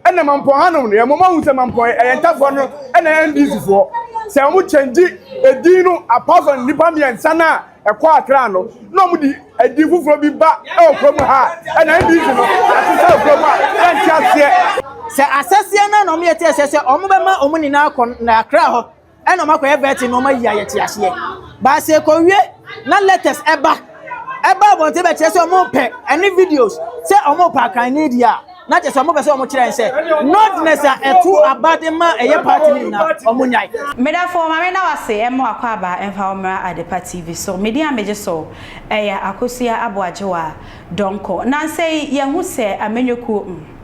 Ɛna mampɔn hanom no yɛ moma hu sɛ mampɔn yɛ ɛyɛ ntafoɔ no ɛna NDC foɔ sɛ ɔmo kyɛngyi ɛdin no apart from nnipa mmiɛnsa no a ɛkɔ akra no na ɔmo de ɛdin foforɔ bi ba ɛwɔ kuro mu ha ɛna NDC no yɛasesa wɔ kuro mu a yɛnte aseɛ. Sɛ asɛseɛ no na ɔmo yɛ te aseɛ sɛ ɔmo bɛma ɔmo nyinaa akɔ akra hɔ Ɛna ɔma kɔyɛ vetting na ɔma yi ayɛ te aseɛ. Baasa ɛkɔwie na letters ɛba. Ɛba abɔnten bɛkyerɛ sɛ ɔmo pɛ ɛne videos sɛ ɔmo pɛ akran ne deɛ a na kyerɛ sɛ ɔmo pɛ sɛ ɔmo kyerɛ sɛ nordness a ɛto aba de ma ɛyɛ party no nyinaa ɔmo nyae. Medafo ma me da wase ɛmmɔ akwaaba mfa wo mmra Adepa TV so. Me din a megye so ɛyɛ Akosua Aboagyewa Donkor. Nansa yi yɛahu sɛ amanyɔkuo mm.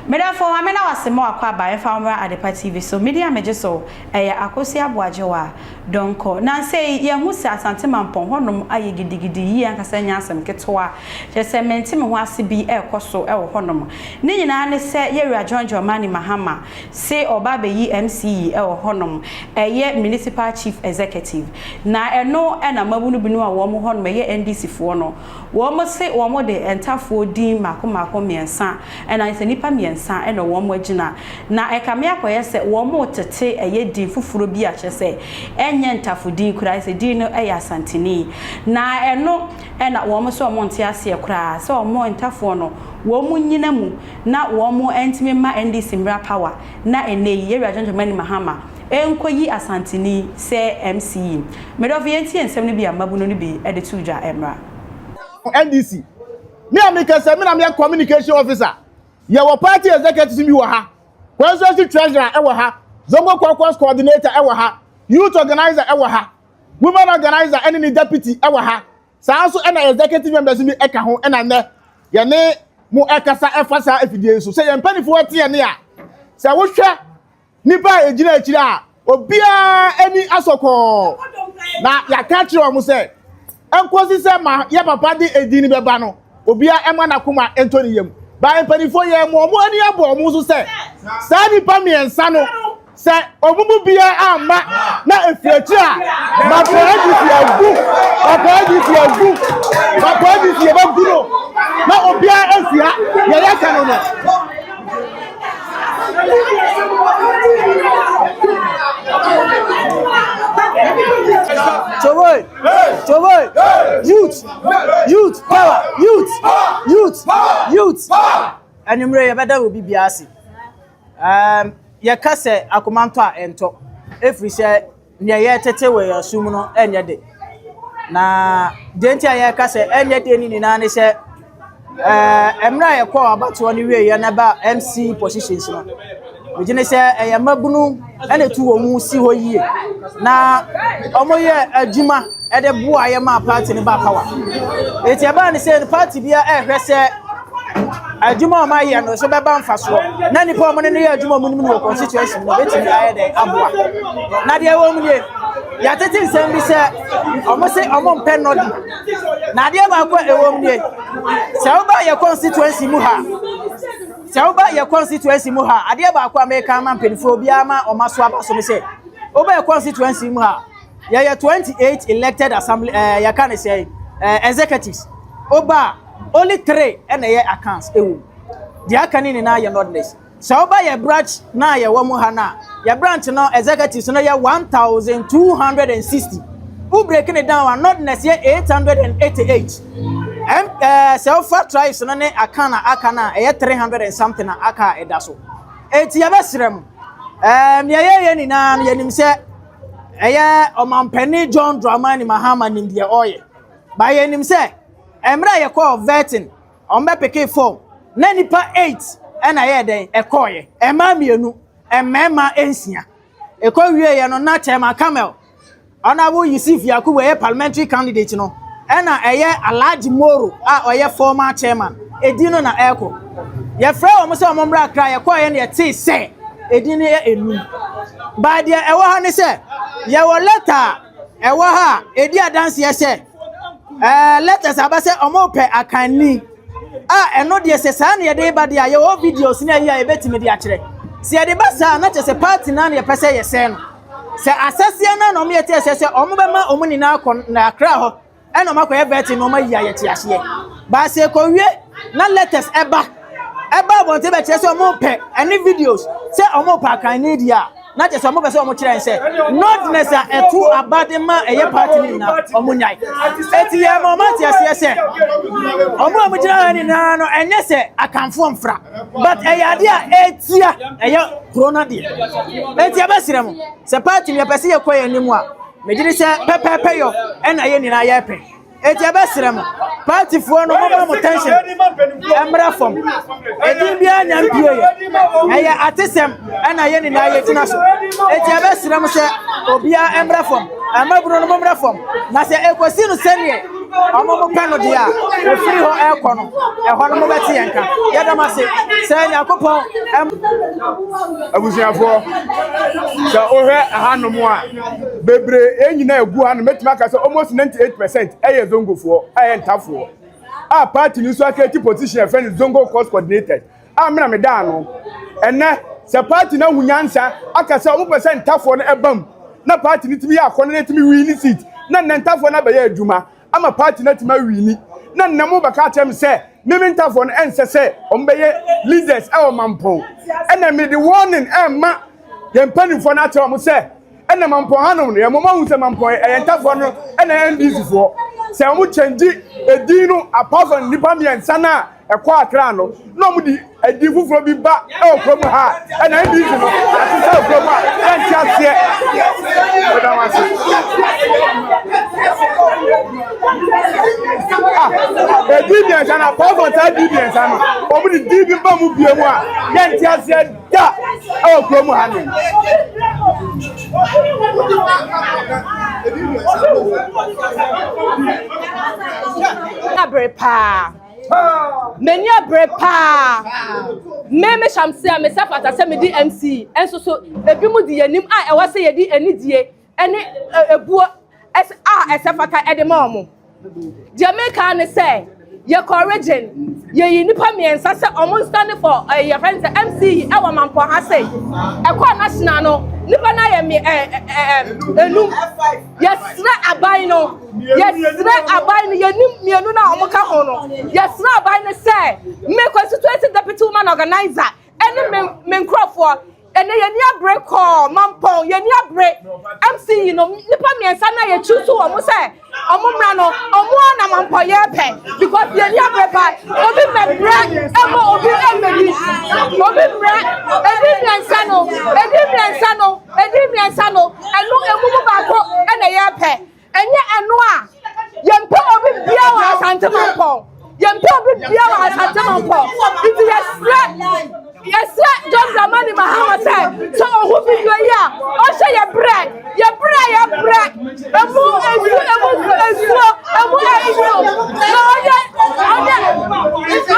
Meda fo ame na wase ma wakɔ aba ɛmfa wo mmra Adepa TV so. Medin a megye so ɛyɛ Akosua Aboagyewa Donkor. Nansa yi yɛahu sɛ Asante Mampɔn hɔnom ayɛ gidigidi yie ankasa nyɛ asɛm ketewa. Kyerɛ sɛ mente me ho ase bi ɛrekɔ so wɔ hɔnom. Ne nyinaa ne sɛ Yɛwura John Dramani Mahama se ɔreba abɛyi MC yi wɔ hɔnom, ɛyɛ Municipal Chief Executive. Na ɛno na mmabunu binom a wɔwɔ hɔnom, ɛyɛ NDC foɔ no, Wɔse wɔde ntafoɔ din mmaako mmaako mmiɛnsa anaa ayɛ sɛ nnipa mmiɛnsa na wɔn agyina, na ɛkame akɔyɛ sɛ wɔretete ɛyɛ din foforɔ bi a kyerɛ sɛ ɛnyɛ ntafodin koraa, ayɛ sɛ din no yɛ Asanteni. Na ɛno na wɔn se wɔn nte aseɛ koraa sɛ wɔn ntafoɔ no wɔn nyina mu na wɔn ntumi mma NDC mmra power na ɛnnɛ yi Yɛwura John Dramani Mahama Ɛnkɔ yi Asanteni sɛ MC yi. Me dɔfo yɛntie nsɛm no bi a mmabunu no bi de too dwa mmra. NDC. Me a meka sɛ me na meyɛ communication officer. Yɛwɔ party executives bi wɔ ha, constituency treasurer wɔ ha, zongo caucus coordinator wɔ ha, youth organiser wɔ ha, women organiser ne ne deputy wɔ ha, saa nso na executive members bi ka ho na nnɛ yɛne mo rekasa fa saa afidie yi so. Sɛ yɛn mpanimfoɔ te yɛn nne a, sɛ wohwɛ. Nnipa a egyina akyiri a obiara ani asɔ kɔɔ, na yɛaka akyerɛ wɔn sɛ, ɛnkosi sɛ ma yɛ papa de edin no bɛba no, obiara ɛma n'akoma ɛntɔ ne yam. Bae mpanyinfoɔ yɛn mo wɔn ani abɔ wɔn so sɛ, saa nnipa mmiɛnsa no, sɛ wɔn mu biara amma na efiri akyiri a, Makwaa GC agu, Makwaa GC agu, Makwaa GC yɛbɛgu no, na obiara ɛnsi ha, deɛ yɛka no no. Jowoy! Jowoy! Youth! Youth power! Youth! Youth! Youth! Anwummerɛ yɛbɛda wɔ biribiara ase. Um, yɛka sɛ akomantɔ a ɛntɔ. Ɛfiri sɛ nea ɛyɛ tete wɔ yɛn so mu no nyɛ de. Na deɛ nti a yɛreka sɛ ɛnyɛ de no nyinaa ne sɛ ɛɛ mmerɛ a yɛkɔɔ abatoɔ no wieɛ na ɛba MC positions no megye ne sɛ ɛyɛ mmabunu ɛna ɛtu wɔn mu si hɔ yie na wɔyɛ adwuma ɛde boa yɛ ma party no ba power. Eti ɛbaa ne sɛ party biara ɛrehwɛ sɛ Adwuma a wɔayɛ no so bɛba mfasoɔ na nnipa a wɔn ne no yɛ adwuma a wɔnim no wɔ constituency mu no bɛtumi ayɛ dɛn aboa. Na deɛ ɛwɔ mu nie, yɛatete nsɛm bi sɛ wɔn se wɔn mpɛ nɔdi. Na adeɛ baako a ɛwɔ mu nie, sɛ woba yɛ constituency mu ha, sɛ woba yɛ constituency mu ha, adeɛ baako a meka ama mpanimfoɔ obiara ma wɔn aso aba so ne sɛ, woba yɛ constituency mu ha, yɛyɛ 28 elected assembly ɛɛ eh, yɛka ne sɛ ɛɛ eh, executives. Woba Only three na ɛyɛ accounts wɔ mu. Deɛ aka no nyinaa yɛ nordless. Sɛ woba yɛ branch no a yɛwɔ mu ha no a, yɛ branch no executives no yɛ 1,260. Wo break no down a, nordless yɛ 888. Ɛm, ɛɛ, eh, sɛ wofa tribes no ne aka na aka no a, ɛyɛ 300 and something na aka a ɛda so. Enti yɛbɛsrɛ mo, ɛɛ, nea yɛyɛ nyinaa no yɛnim sɛ ɛyɛ ɔmampanin John Dramani Mahama nim deɛ ɔreyɛ. Ba yɛnim sɛ Mmerɛ a yɛkɔɔ Virton, wɔbɛpekee fɔm, na nnipa eight na ɛyɛɛ dɛn, ɛkɔeɛ, mmaa mmienu, mmarima nsia. Ɛkɔ wieeɛ no, na Chairman Kamel, Honourable Yusuf Yakubu ɛyɛ Parliamentary candidate no, ɛna ɛyɛ Alhaji Moro a ɔyɛ former Chairman, ɛdin no na ɛrekɔ. Yɛfrɛɛ wɔn sɛ wɔmmra Accra, yɛkɔeɛ no yɛtee sɛ ɛdin no yɛ nnum. But deɛ ɛwɔ ha ne sɛ, yɛwɔ letter a ɛwɔ ha a ɛdi adanseɛ sɛ, Ɛɛ, letters a aba sɛ wɔrepɛ akanni a, ɛno deɛ sɛ saa na yɛde reba deɛ a, yɛwɔ videos ne ayi a yɛbɛtumi de akyerɛ. Sɛ yɛde ba saa a, na kyerɛ sɛ party no ara na yɛpɛ sɛ yɛsɛe no. Sɛ asɛseɛ no ara na wɔyɛ te sɛ sɛ wɔbɛma wɔn nyinaa akɔ na Accra hɔ na wɔakɔyɛ vetting na wɔayi ayɛ te aseɛ. But sɛ ɛkɔwie na letters ba ɛba abɔnten bɛkyerɛ sɛ wɔn pɛ ɛne videos sɛ wɔn pɛ akan ne deɛ a na kyerɛ sɛ wɔn pɛ sɛ wɔn kyerɛ sɛ nordness a ɛto abade ma ɛyɛ party ne nyinaa wɔn nyae eti yɛ ma wɔn ate aseɛ sɛ wɔn a wɔgyina ha nyinaa no ɛnyɛ sɛ akanfoɔ mfra but ɛyɛ adeɛ a ɛtia ɛyɛ kuro no adeɛ eti ɛbɛsrɛ mo sɛ party no yɛpɛ sɛ yɛkɔ yɛn anim a megyere sɛ pɛpɛɛpɛ yɔ ɛna yɛn nyinaa yɛpɛ Eti yɛbɛsrɛ mo, paatifoɔ no momma mo tension mmra fam. Edin biara nya mpieeɛ. Ɛyɛ atesɛm na yɛn nyinaa yɛgyina so. Eti yɛbɛsrɛ mo sɛ obiara mmra fam. Mmabunu no mommra fam. Na sɛ ɛkɔsi no sɛdeɛ wɔn mopɛ no deɛ a, ɛfiri hɔ ɛrekɔ no, ɛhɔ no mobɛte yɛn nka. Yɛda mo ase. Sɛ Nyankopɔn. Abusuafoɔ, sɛ wohwɛ ɛhanom a. bebree nyinaa egu ha no mɛtumi aka sɛ almost 98 percent ɛyɛ zongofoɔ ɛyɛ ntafoɔ a party no nso akɛti position ɛfɛ no zongo course coordinated a mena me daa no ɛnɛ sɛ party no ahu nyansa aka sɛ ɔmo pɛ sɛ ntafoɔ no ɛbam na party no tumi yɛ akɔnɔ na ɛtumi win ne seat na nnɛ ntafoɔ no abɛyɛ adwuma ama party no atumi awini na nnɛ mo bɛka akyerɛ me sɛ me me ntafoɔ no ɛnsɛ sɛ wɔn bɛyɛ leaders ɛwɔ mampɔn ɛna me de warning ɛma yɛn mpanimfoɔ no akyerɛ wɔn sɛ ɛna mampɔn hanom no yɛn mɔmɔ ahu sɛ mampɔn ɛyɛ ntafoɔ no ɛna ndc foɔ sɛ wɔn kyɛngye edin no apart from nipa mmiɛnsa no a Ɛkɔ akra no, na wɔn de ɛdin foforɔ bi ba ɛwɔ kuro mu ha a, ɛna NDC no yɛasesa wɔ kuro mu a, yɛnte aseɛ. Meda wɔn ase. Ah, ɛdin mmiɛnsa no, apɔɔfɔ saa din mmiɛnsa no, wɔn de din bi ba mu bie mu a, yɛnte aseɛ da ɛwɔ kuro mu ha no. Ɛna bere paa. M'ani abere paa. Me, me Shamsia, me sɛ fata sɛ medi MC. Nso so, ebi mu di yɛnim a ɛwɔ sɛ yɛdi anidie ne ebuo a ɛsɛ fata de ma wɔn. Deɛ meka ne sɛ, yɛkɔ region, yɛyi nipa mmiɛnsa sɛ wɔn nsane for ɛyi yɛfɛ ne sɛ MC yi ɛwɔ mampɔ ha sei. Ɛkɔɔ national no, nipa no ayɛ me ɛɛ ɛɛ enum. Yɛsrɛ aban no, yɛsrɛ aban no, yɛnim mmienu no a wɔka ho no, yɛsrɛ aban no sɛ me constituency deputy woman organizer ɛne me me nkurɔfoɔ ɛnɛ yɛni abere kɔɔ mampɔn yɛni abere mc yi no nipa mmiɛnsa na yɛtu so wɔn sɛ wɔn mmra no wɔn a na mampɔn yɛ pɛ because yɛni abere pa obi mɛbrɛ ɛmɔ obi ɛmɛni obi mmerɛ ɛdi mmiɛnsa no ɛdi mmiɛnsa no. Ɛdi mmiɛnsa no, ɛno emu mu baako na yɛpɛ. Ɛnyɛ ɛno a, yɛmpɛ obi bia wɔ Asante Mampɔn. Yɛmpɛ obi bia wɔ Asante Mampɔn. Nti yɛsrɛ yɛsrɛ John Dramani Mahama sɛ sɛ ɔhu video yi a ɔhyɛ yɛ brɛ yɛ brɛ yɛ brɛ emu esu emu esuo emu esuo na ɔnyɛ ɔnyɛ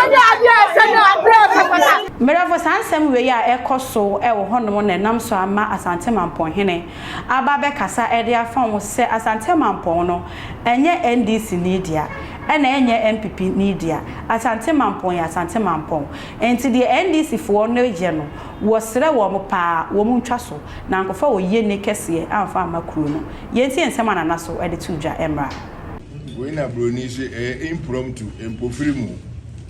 ɔnyɛ adeɛ ɛsɛ ne adeɛ ɛsɛ pata. Merɛfo, saa nsɛm wei a ɛkɔ so wɔ hɔnom na ɛnam so ama Asante Mampɔn hene aba abɛkasa de afa ho sɛ Asante Mampɔn no ɛnyɛ NDC ni dea, ɛna ɛnyɛ NPP ni dea, Asante Mampɔn yɛ Asante Mampɔn, nti deɛ NDC foɔ no yɛ no wɔ serɛ wɔn paa wɔn ntwa so na ankɔfa wɔ yie ni kɛseɛ amfa amma kuro no. Yɛntie nsɛm a Nana so de too dwa mmra. Wei na broni se ɛyɛ impromptu, mpofirim o.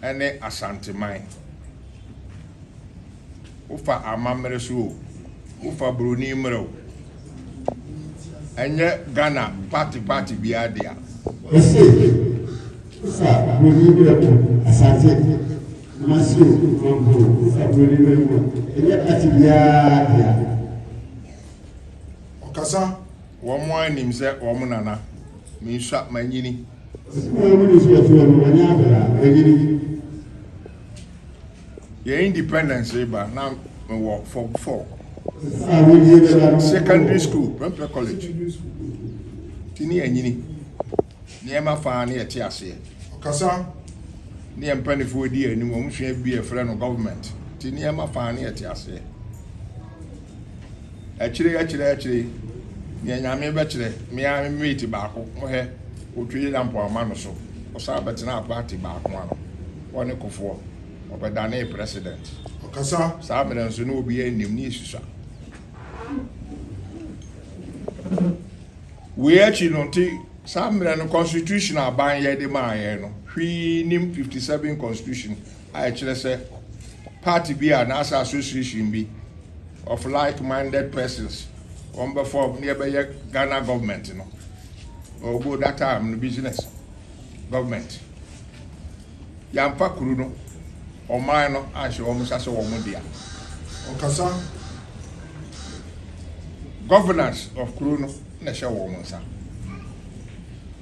ne Asanteman. Wofa amammere so o, wofa buroni mmerɛ o, ɛnyɛ Ghana party party biara dea. Ɛse wofa buroni mmerɛ o, Asante Kumasi o, Mampo o, wofa buroni mmerɛ mu a, ɛnyɛ party biara dea. Ɔkasa wɔn a nim sɛ wɔn nana, mensua, manyini. Sika mu nisuafoɔ no wɔnyɛ akwadaa ɛnyɛ ni. Yɛ independence reba na me wɔ form four. Sika a wɔdie bɛda no. Secondary school mɛ mpɛ college. Ti ne anyini. Nneɛma faa ne yɛte aseɛ. Ɔkasa. Ne yɛ mpanifoɔ di anim wɔn sua bi yɛ frɛ no government ti nneɛma faa ne yɛte aseɛ. Akyire yi, akyire yi, akyire yi, deɛ Nyame bɛkyerɛ, me ara me mate baako, mohwɛ, ɔtwa Yera mpoama no so, ɔsan bɛtenaa party baako ano, ɔne Kufuor, ɔbɛdanee president. Ɔkasa. Saa mmerɛ nso na obiara nnim ne yɛsusua. Wei akyi no nti, saa mmerɛ no constitution aban yɛ de maa yɛn no, hwee nnim 57 constitution. a ɛkyerɛ sɛ party bi a anaasɛ association bi of like minded persons wɔn bɛ form ne ɛbɛyɛ Ghana government no ɔwɔ that time no business government yɛamfa kuru no ɔman no anhyɛ wɔn nsa sɛ wɔn dea ɔkasa governance of kuru no. na ɛhyɛ wɔn nsa.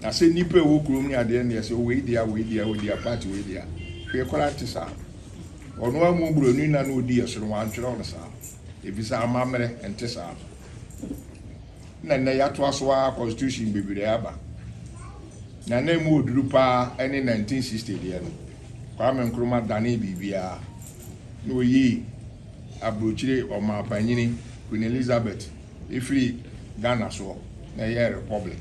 Na sɛ nnipa a ɛwɔ kurom ne adeɛ ne ɛsɛ wei dea wei dea wei dea part wei dea wei koraa nte saa. Ɔno ara mu buroni na na ɔdi ɛsono wantwerɛ no saa ɛfiri sɛ amammerɛ nte saa. Na nnɛ yɛatoa so ara constitution bebree aba na na ɛmu ɔduru paa ɛne 1960 deɛ no Kwame Nkrumah danee biribiara na ɔyii aburokyire ɔmaapanyini Queen Elizabeth Efiri Ghana soɔ na ɛyɛɛ republic.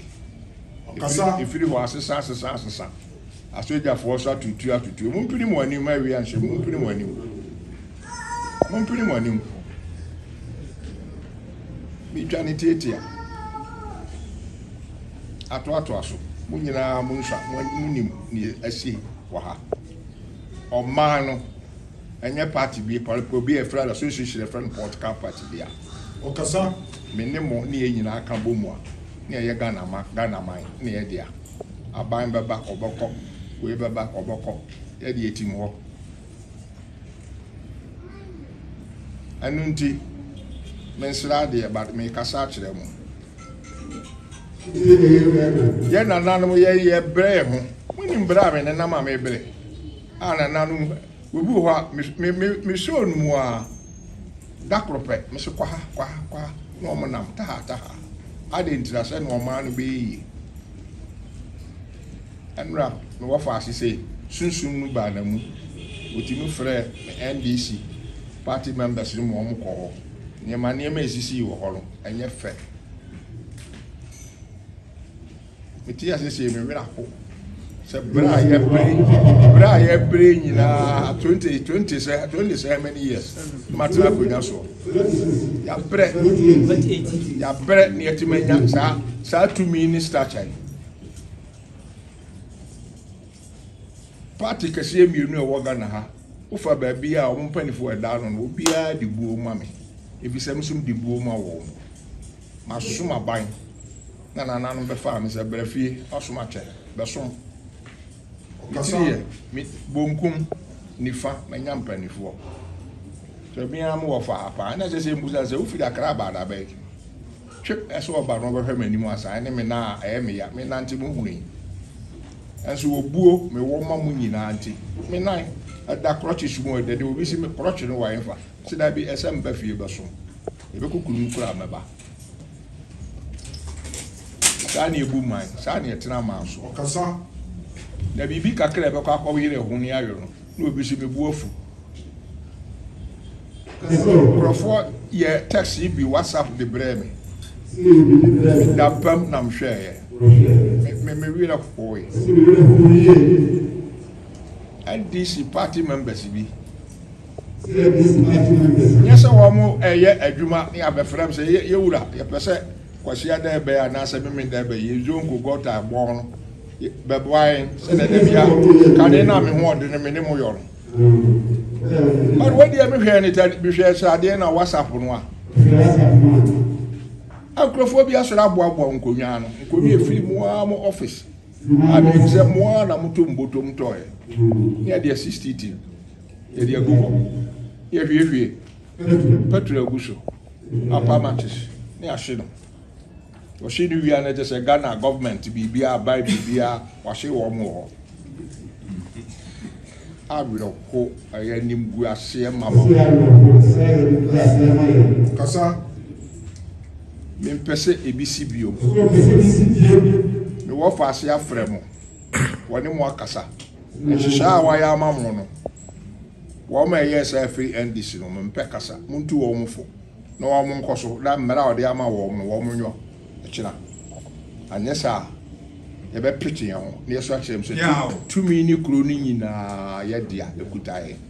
Efiri hɔ asesa asesa asesa. Asogyafoɔ nso atutu atutu. Mompini mo anim ma awia nhyɛ mo. Mompini mo anim. Mompini mo anim. Metwa ne tiatia. Atoatoa so. Mo nyinaa mo nsa mo nim ne asi wɔ ha. Ɔman no Ɛnyɛ party bi pɔrepɔ bi a ɛfrɛ no association a ɛfrɛ no political party bi a ɔkasa me ne mo ne yɛn nyinaa ka bɔ mu a na yɛyɛ Ghana ma Ghana man ne yɛ dea. Aban bɛba ɔbɛkɔ, wei bɛba ɔbɛkɔ, yɛ de yɛtim hɔ. Ɛno nti me nsra adeɛ but me kasa akyerɛ mo. Yɛ nananom yɛ yɛ brɛ yɛ ho. Mo nim brɛ a me nenam a me brɛ. A Nananom, obi wɔ hɔ a, me, me, me, me show no mu a, da koro pɛ, me se kɔ ha, kɔ ha, kɔ ha, na wɔn nam taha, taha. Adɛn ntira sɛ na ɔman no bɛyɛ yie. Ɛnora, me wɔ faase sɛ, sunsum no baa na mu. Wɔtumi frɛ me NDC party members no ma wɔn kɔ hɔ. Nneɛma, nneɛma a ɛsisii wɔ hɔ no, ɛnyɛ fɛ. Metee ase sɛ me werɛ aho sɛ berɛ a yɛbere berɛ a yɛbere nyinaa twenty twenty sɛ twenty sɛ many years matena akonnwa soɔ yɛabrɛ yɛabrɛ ne yɛtumi anya saa saa tumi ne stature yi party kɛseɛ mmienu a ɛwɔ ghana ha wofa baabi a wɔn mpanimfoɔ ɛda ano no obiara de buo ma me ebi sɛ mesom de buo ma wɔn. Masom aban na nananom bɛfaa me sɛ, Bra fie, w'asom akyɛ, bɛsom. Me tiri yɛ me bonkum, nifa, manya mpanimfoɔ. Sɛ me ara mewɔ faa paa, ɛna ɛsɛ sɛ mbusa sɛ, Wofiri Akra aba anaa bɛn? Twe ɛsɛ ɔba na ɔbɛhwɛ m'anim ansa, ɛne me nan a ɛyɛ me ya, me nante mu hunu yi. Nanso obuo mewɔ ma mo nyinaa nti, me nan da krɔkyes mu a, ɛdɛ deɛ obi se me krɔkye no wɔ ɛmfa, se daabi, ɛsɛ meba fie bɛsom. Yɛbɛkɔ kuro mu koraa mɛba. Saa na ebu man, saa na ɛtena man so. Ɔkasa. Na biribi kakra a ɛbɛkɔ akɔyere ɛho ne ayɔ no, na obi so mebu afu. Nkurɔfoɔ yɛ text yi bi WhatsApp de brɛɛ me. Dampam na mehwɛeɛ. Me me werɛ hoe. NDC party members bi. Nyɛ sɛ wɔn ɛyɛ adwuma ne abɛfrɛ me sɛ yɛ wura yɛpɛ sɛ kwasia dɛ bɛyɛ anaasɛ meme dɛ bɛyɛ yɛ zonko gɔta ɛbɔ ho no bɛboa yɛn sɛdeɛ da bia kane no a me ho ɔdene me ne mo yɔ no. But wei deɛ me hwɛɛ ne ta bi hwɛɛ sɛ adeɛ na WhatsApp no a. Nkurɔfoɔ bi asɔre aboaboa nkonnwa no nkonnwa ɛfiri mu ara mo office a menim sɛ mo ara na moto mbotom tɔɛ ne ɛdeɛ 60 tin. Yɛde agu hɔ, na yɛahwiehwie pɛtro agu so, apa matches, na yɛahye no. Wɔhye no wie a na ɛkyɛ sɛ Ghana gɔọmenti biribiara aban biribiara wɔahye wɔn wɔ hɔ. Awerɛho ɛyɛ animguaseɛ ma ma. Kasa mempɛ sɛ ebi si bio. Mewɔ faase afrɛ mo wɔne mo akasa. Nhyehyɛɛ a wɔayɛ ama mo no, wɔma ɛyɛɛ saa firi NDC no, mempɛ kasa, montu wɔn fo na wɔn nkɔ so na mmara a wɔde ama wɔn no wɔn nyɔ kyena, anyɛ saa a yɛbɛpete yɛn ho na yɛso akyerɛ mu sɛ tumi ne kuro no nyinaa yɛ dea, ɛkuta yɛn.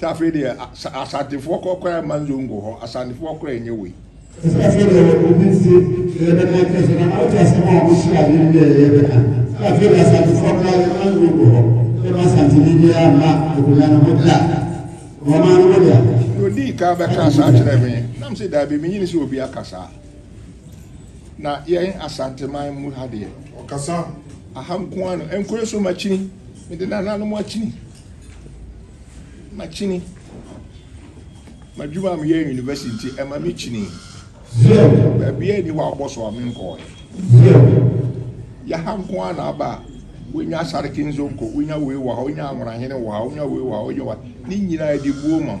Sɛ afei deɛ asantefoɔ kɔ kora ɛma nzongo hɔ asantefoɔ kora ɛnyɛ wei. Sɛ afei deɛ obi nti yɛ bɛ kan kɛsɛ na ɔte asɛm a ɔmo hyɛ ade no deɛ yɛ bɛ kan. Sɛ afei deɛ asantefoɔ kora ɛma nzongo hɔ sɛ ma asanteni biara mma akonnwa no ho da. Wɔn maa no mo dea. Deɛ odii kan bɛ kaa saa kyerɛɛ me nam se daabi me nyini sɛ obi aka saa. Na yɛn asanteman mu ha deɛ. Ɔkasa. Aha nkoaa no ɛnkɔ yɛ so makyini me de nananom akyini. Makyini. M'adwuma a meyɛ wɔ university nti, ɛma mekyinii. Baabiara nni hɔ a wɔbɔ so a menkɔɔɛ. Yɛ ha nko ara na aba a, wonya Asareke Nzonko, wonya wei wɔ ha, wonya Anworahene wɔ ha, wonya wei wɔ ha, wonya wei wɔ ha. Ne nyinaa, ɛde buo ma wo.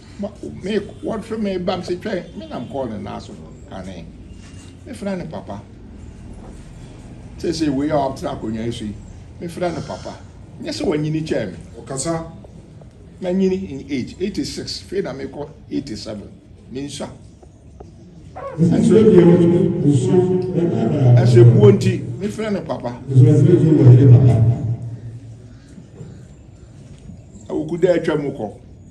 Ma me wɔhwe me ba me se twɛn me nam kɔɔ ne nan so kane me frɛ no papa seesei wei a ɔatra akonnwa yi so yi me frɛ no papa nyɛ sɛ wanyini kyɛɛ me ɔkasa manyini in age 86 fei na mekɔ 87 mensua ɛsɛ buo nti me frɛ no papa awukuda atwa mu kɔ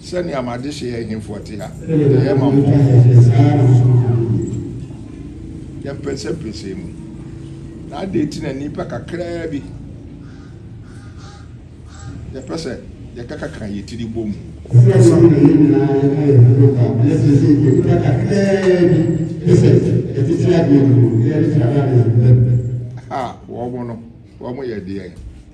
sɛnea m'adehye ahemfo te a, ɛyɛ ma mmɔbɔ. Yɛn pɛsɛmpɛsɛ mu. Na adɛn nti na nnipa kakraa bi yɛpɛ sɛ yɛkakaka yɛn tiri bɔ mu? Ha, wɔn no, wɔn yɛ deɛn?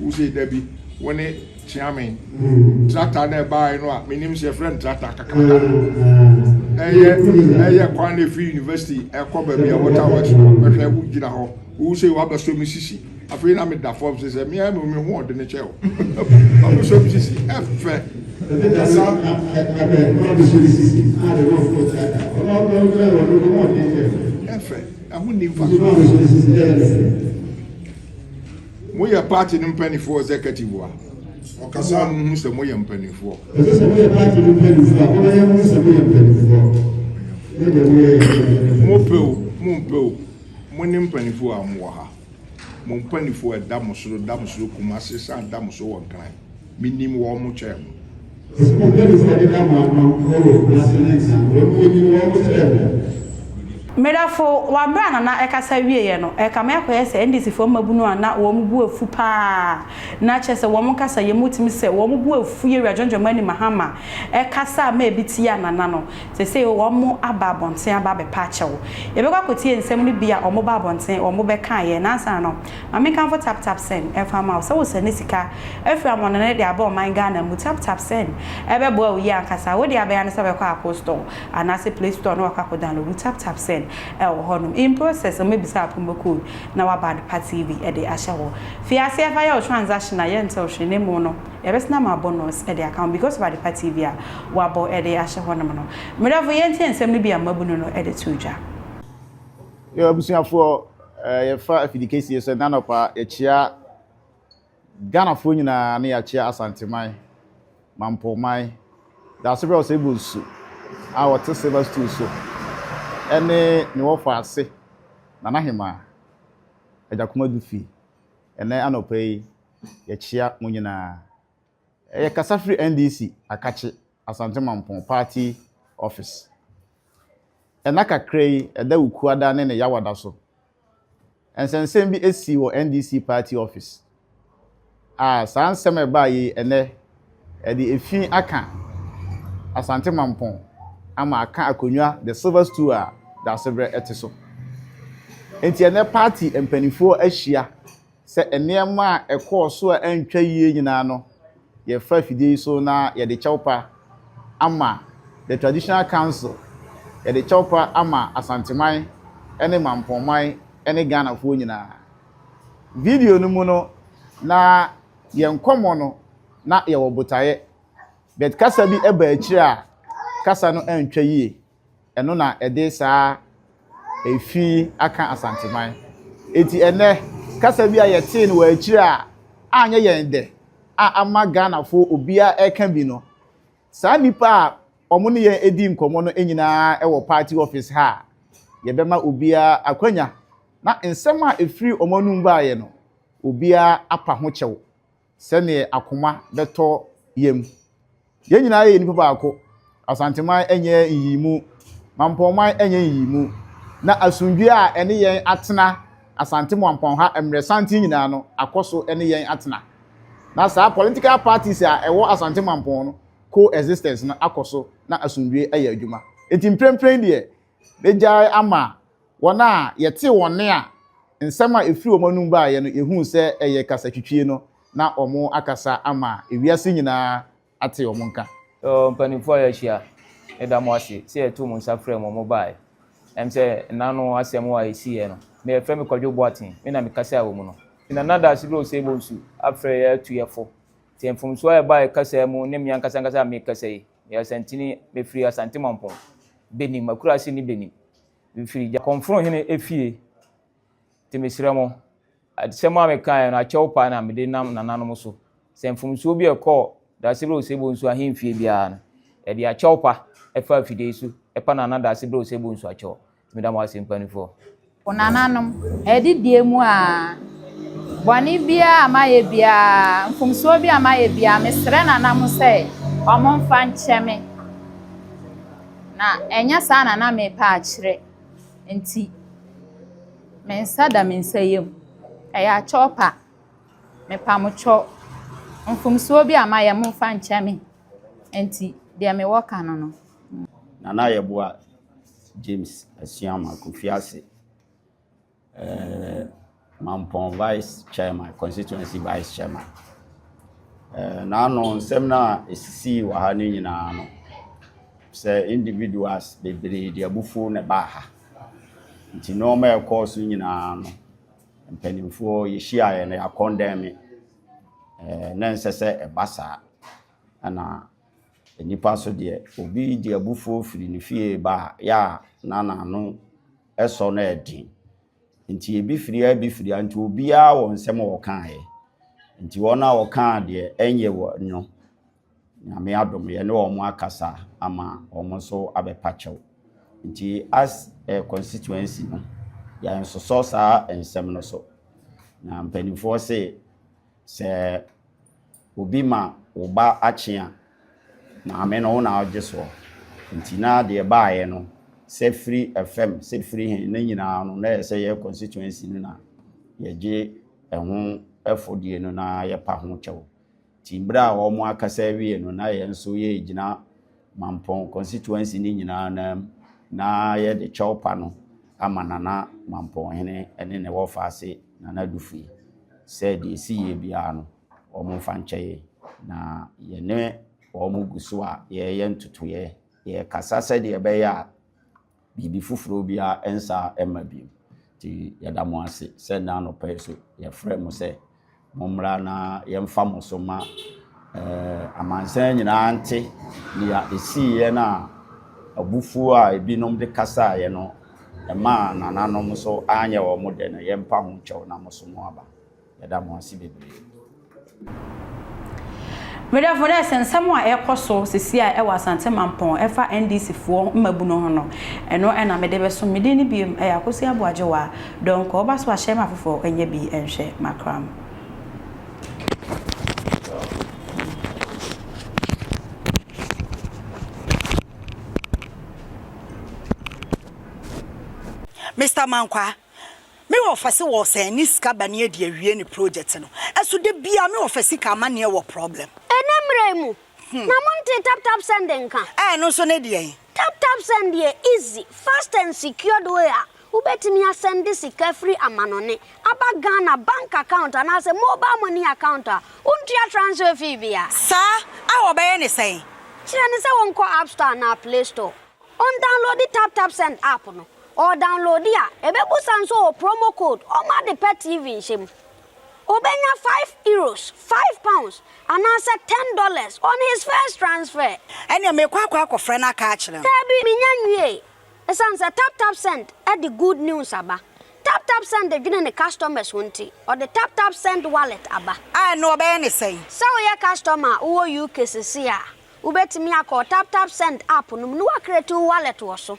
Wo sei da bi wo ne Kyeame tractor na ɛbaeɛ no a menim sɛ yɛfrɛ no tractor kakraka ɛyɛ ɛyɛ kwan na ɛfiri university ɛkɔ baabi a water works no bɛhwɛ wo gyina hɔ wo sei wabɛsɔ me sisi afei na meda fam sɛ sɛ meɛ me ho ɔde ne kyɛ o wabɛsɔ me sisi ɛfɛ ɛfɛ ɛho nni mfa so Moyɛ party no mpaninfoɔ executive a, ɔkasa a, monhu sɛ moyɛ mpaninfoɔ. Ɛsɛ sɛ moyɛ party no mpaninfoɔ a, momma yɛnhu sɛ moyɛ mpaninfoɔ. Ne deɛ moyɛ yɛ mpaninfoɔ. Mopɛ o, mompɛ o, mone mpaninfoɔ a mowɔ ha. Mo mpaninfoɔ a ɛda mo soro da mo soro Kumase san da mo so wɔ Nkran. Menim wɔn mo kyɛɛ mo. Ɔse mo pɛ me sɛ meda mo ano wɔ wɔ kumase ne nsango emu menim wɔn mo kyɛɛ mo. Medafo wa bere a Nana ɛkasa wieɛ no ɛkame akɔyɛ sɛ NDC foɔ mmabunu a na wɔn bo afu paa na kyɛsɛ wɔn nkasa yɛ mu tumi sɛ wɔn bo afu Yewura John Dramani Mahama ɛkasa a ma ebi tia Nana no sesei wɔn mo aba abɔnten aba abɛpa akyɛw yɛbɛkɔ akɔtie nsɛm no bi a wɔn ba abɔnten wɔn bɛkaeɛ nansa no Ma menkamfo TapTapSend mfa mma wo. Sɛ wosɛne sika firi amɔnɔne de aba ɔman Ghana mu, TapTapSend bɛboa wo yie ankasa. Wo deɛ abɛyɛ ara ne sɛ wobɛkɔ Apple Store anaase Play Store na wakɔ akɔ downloadu TapTapSend wɔ hɔ nom. In process, wɔbɛbisa wo promo code na wɔaba ade pa TV de ahyɛ hɔ. Fi aseɛ fa yɛ wo transaction a yɛntew hwee na mmom no yɛbɛsane ama wo bonus de aka ho because of adepa TV a wɔabɔ de ahyɛ hɔ nom no. Mmerɛfo, yɛntie nsɛm no bi a mmabunu no de too dwa. Yɛn abusuafoɔ, Eh, yɛfa afidi kɛsie sɛ nanɔpa yɛkyea Ghanafoɔ nyinaa ne yɛakyea Asanteman, Mampɔman, Daasebrɛ Ɔsɛe Bonsu a wɔte silver stool so ɛne ne wɔfa ase Nana Hemaa, Agyakomadu Dufi. Ɛnɛ anɔpa yi yɛkyea mo nyinaa. Eh, yɛkasa firi NDC Akakye. Asante Mampong party office. Nna kakra yi ɛda Wukuada ne ne Yawada so, nsɛnsɛm bi sii wɔ NDC party office a saa nsɛm a ɛbaa yi ɛnɛ ɛde efi aka Asante Mampong ama aka akonnwa the silver stool a Daasebrɛ ɛte so. Enti ɛnɛ party mpanimfoɔ ahyia sɛ nneɛma a ɛkɔɔ so a antwa yie nyinaa no yɛfa afidie yi so na yɛde kyɛwpa ama the traditional council, yɛde kyɛwpa ama Asanteman ne Mampongman ne Ghanafoɔ nyinaa. Video no mu no na yɛn nkɔmmɔ no na yɛwɔ botaeɛ but kasa bi baa akyire a kasa no antwa yie. Ɛno na ɛde saa efi yi aka Asanteman. Enti ɛnnɛ, kasa bi a yɛtee no wɔ akyiri a anyɛ yɛn dɛ a ama Ghanafo obiara reka bi no, saa nnipa a wɔn ne yɛn di nkɔmmɔ no nyinaa wɔ party office ha a yɛbɛma obiara akwanya na nsɛm a ɛfiri wɔn anom baeɛ no, obiara apa ho kyɛw. sɛdeɛ akoma bɛtɔ yam. Yɛn nyinaa yɛ nnipa baako. Asanteman nyɛ nyiyimu, Mampɔnman nyɛ nyiyimu, na asomdwoeɛ a ɛne yɛn atena Asante Mampɔn ha mmerɛ santen nyinaa no akɔ so ne yɛn atena. Na saa political parties a ɛwɔ Asante Mampɔn no co-existence no akɔ so na asomdwoeɛ ayɛ adwuma. Enti mprempren deɛ Begyae ama wɔn a yɛtee wɔn nne a nsɛm a efiri wɔn anom baeɛ no yɛhuu sɛ ɛyɛ kasatwitwie no na wɔakasa ama ewiase nyinaa ate wɔn nka. O mpanimfoɔ a yɛahyia, meda mo ase sɛ yɛtoo mo nsa frɛɛ mo a mobaeɛ. Ɛwom sɛ nna no asɛm a ɛsiiɛ no, me a yɛfrɛ me Kwadwo Boateng, me na mekasae wɔ mu no, nti na Nana Daasegre Osei Bonsu afrɛ yɛn atu yɛn fo. Sɛ mfomsoɔ a ɛbaeɛ kasaa mu ne me ankasa ankasa a merekasa yi, meyɛ Asantini, mefiri Asante Mampong. benim, m'akuraase ni benim. Mefiri Gyakɔmforo hene efie, nti mesrɛ mo, asɛm a mekaeɛ no, akyɛw paa na mede nam nananom so. Sɛ mfomsoɔ bi a ɛkɔɔ Daasebrɛ Osebɔ Nsu ahemfie biara no, yɛde akyɛw pa faa fidei so pa Nana Daasebrɛ Osebɔ Nsu akyɛw. Meda mo ase, mpaninfoɔ. Mo nananom, adidie mu aa. Bɔne biara a mayɛ biara, mfomsoɔ biara a mayɛ biara, mesrɛ nana mo sɛ wɔmfa nkyɛ me. Na ɛnyɛ saa na na merepɛ akyerɛ nti, me nsa da me nsa yam. Ɛyɛ akyɔpa. Mepa mo kyɔ. Mfomsoɔ bi a mayɛ, momfa nkyɛ me. Nti, deɛ mewɔ ka no no. Nana Ayɛboa, James Asuama Kofiase, ɛɛ Mampɔn Vice Chairman, Constituency Vice Chairman. Ɛɛ n'ano nsɛm no a esisii wɔ ha no nyinaa no, sɛ individuals bebree de abufuo na ɛbaa ha. Nti nneɛma a ɛkɔɔ so nyinaa no, mpanimfoɔ yɛhyiaeɛ no yɛakɔndɛme. Ɛɛ na ɛnsɛ sɛ ɛba saa. Ɛna. Nnipa so deɛ, obi de abufuo firi ne fie reba a, yɛ a na n'ano sɔ na ɛyɛ den. Nti ebi firi ha, ebi firi ha, nti obiara wɔ nsɛm a ɔkaeɛ. Nti wɔn a wɔkaa deɛ ɛnyɛ wɔn no, Nyame adom yɛne wɔn akasa ama wɔn nso abɛpa kyɛw. Nti as a constituency no, yɛansosɔ saa nsɛm no so. Na mpanimfoɔ se sɛ. Obi ma wo ba akye a, maame no wo na wogye soɔ. Nti na deɛ ɛbaeɛ no, sɛ firi fam, sɛ firi he, ne nyinaa no, na ɛyɛ sɛ yɛ constituency no na yɛgye ɛho ɛfɔdie no na yɛpa ho kyɛw. Nti berɛ a wɔn akasa awie no, na yɛn nso yɛgyina Mampɔn constituency no nyinaa no mu na yɛde kyɛw pa no ama Nana Mampɔnhene ne ne wɔfa ase, Nana Dufui, sɛ deɛ ɛsiiɛ biara no. wɔn mfa nkyɛ yɛn, na yɛne wɔn gu so a yɛreyɛ ntotoeɛ, yɛrekasa sɛdeɛ ɛbɛyɛ a biribi foforɔ biara nsa mma bio. Nti yɛda mo ase sɛ nnɛ anɔpa yi so yɛfrɛ mo sɛ mommra na yɛmfa mo so ma eh, amansan nyinaa nte nea ɛsiiɛ no a abufuo a ebinom de kasaeɛ no ɛmaa nananom so anyɛ wɔn dɛ no yɛmpa ho nkyɛw na mo so mo aba. Yɛda mo ase bebree. Me dɔfo nurse nsɛm a ɛkɔ so sisi a ɛwɔ Asante Mampɔn ɛfa NDC foɔ mmabunu ho no ɛno na mede bɛso me din no biom ɛyɛ Akosi Aboagyewa Donkor ba so ahyɛ ma afoforɔ ɛnyɛ bi ɛnhwɛ makram. Mister Mankwa. Me wɔfa se wɔ sɛn ne sika ba ne adi awie ne project no ɛso da biaa me wɔfa sika amaneɛ wɔ problem. Ɛnɛ mmerɛ yi mu na mo ntee tap tap send nka. Ɛno nso ne deɛn? Tap tap send yɛ easy, fast and secured way a wobɛtumi asɛnde sika firi amanɔne aba Ghana bank account anaasɛ mobile money account a wontua transfer fee biara. Saa? A wɔbɛyɛ ne sɛn? Kyerɛ no sɛ wɔnkɔ App Store anaa Play Store. Ɔndawnlode Tap Tap Send app no. Ɔɔdawnlode a, ebebusa no sɛ ɔwɔ promo code ɔma ade pɛ TV nhyɛ mu. Obenya five Euros, five pounds, anaasɛ ten dollars on his first transfer. Ɛnneɛ merekɔ akɔ akɔfrɛ no aka akyerɛ no. Daabi, mennya nwiee. Esiane sɛ Tap Tap Send de good news aba, Tap Tap Send dwene ne customers ho nti, ɔde Tap Tap Send Wallet aba. A ɛnneɛ ɔbɛyɛ no sɛn? Sɛ woyɛ customer a wowɔ UK seesei a, Wobɛtumi akɔ wo TapTapSend app no mu na woacreate wo wallet wɔ so.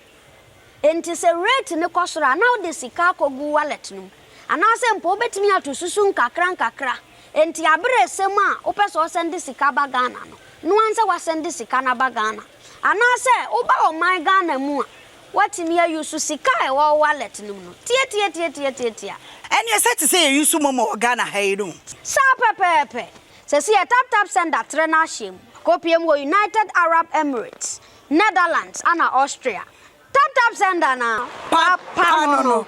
Enti sɛ rate no kɔ soro a, na wode sika akɔgu wo wallet no mu. Anaasɛ mpo wobɛtumi ato susu nkakrankakra. Enti aberɛ ɛsɛ mu a wopɛ sɛ wosɛnde sika ba Ghana no, no ara sɛ woasɛnde sika no aba Ghana. Anaasɛ woba ɔman Ghana mu a, woatumi a use sika a ɛwɔ wo wallet no mu no. Tiatiatiatiatiatia. Ɛneɛ sɛ te sɛ yɛ use momo wɔ Ghana ha yi no. Saa pɛpɛɛpɛ. Sesei TapTap Sender trɛ n'ahyeɛ mu kɔpue mu wɔ United Arab Emirates, Netherlands ana Austria. TapTap Sender na papa no no.